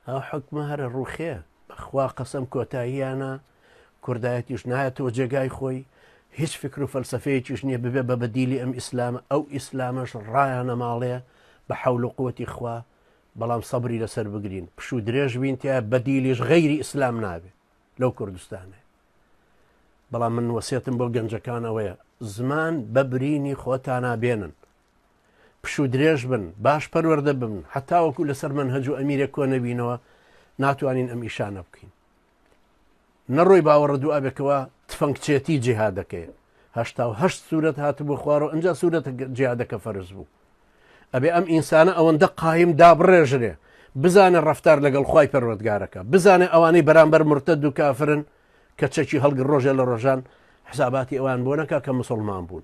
ئەو حکومە هەرە ڕوخێ بەخوا قەسەم کۆتاییانە کوردایەتیش نایەتەوە جێگای خۆی هیچ فکر و فەلسفەیەکیش نییە ببێ بە بەدیلی ئەم ئیسلامە ئەو ئیسلامەش ڕایانە ماڵێ بە حەول و قوتی خوا بەڵام سەبری لەسەر بگرین پش و درێژ بینتیا بەدیلیش غەیری ئیسلام نابێ لەو کوردستانێ بەڵام من وەسێتم بۆ گەنجەکان ئەوەیە زمان بە برینی خۆتانا بێنن پشوو درێژ بن باش پەروەردە ببن حەتاوەکو لەسەر مەنهەج و ئەمیرێک کۆ نەبینەوە ناتوانین ئەم ئیشانە بکەین نەڕۆی باوەڕە دوو ئابێکەوە تفەنگچێتی جیهادەکەی هشتا و هەشت سوورەت هاتبوو خوارەوە ئەجا سوورەتە جیادەکە فەرز بوو ئەبێ ئەم ئینسانە ئەوەندە قایم دابڕێژرێ بزانە ڕفتار لەگەڵ خی پەروەردگارەکە بزانێ ئەوانەی بەرامبەر مرتە دوو کافرن کە چەکی هەڵگر ڕۆژێ لە ڕۆژان حساباتی ئەوان بۆ نەکە کە مسلمان بوون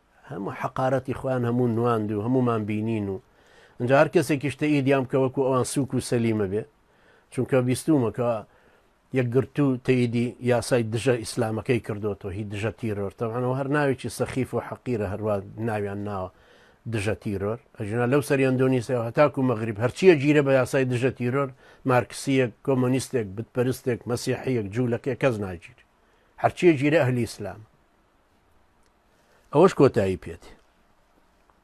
هەموو حەقارەتی خۆیان هەموو نواند و هەموومان بینین و ئەنجا هەر کەسێکیش تەئیدیان بکە وەکو ئەوان سووک و سەلیمە بێ چونکە بیستوومە کە یەکگرتوو تەئیدی یاسای دژە ئیسلامەکەی کردوەوە هی دژە تیرۆر تەوانەوە هەر ناوێکی سەخیف و حەقیرە هەروە ناویان ناوە دژە تیرۆر ئەژنا لەو سەر ئەندۆنیسیا هەتاکو مەغریب هەرچیە گیرە بە یاسای دژە تیرۆر مارکسیەک کۆمۆنیستێک بتپەرستێک مەسیحەیەک جوولەکە کەس ناگیری هەرچیە گیرە ئەهلی ئیسلامە ئەوەش کۆتایی پێدێ.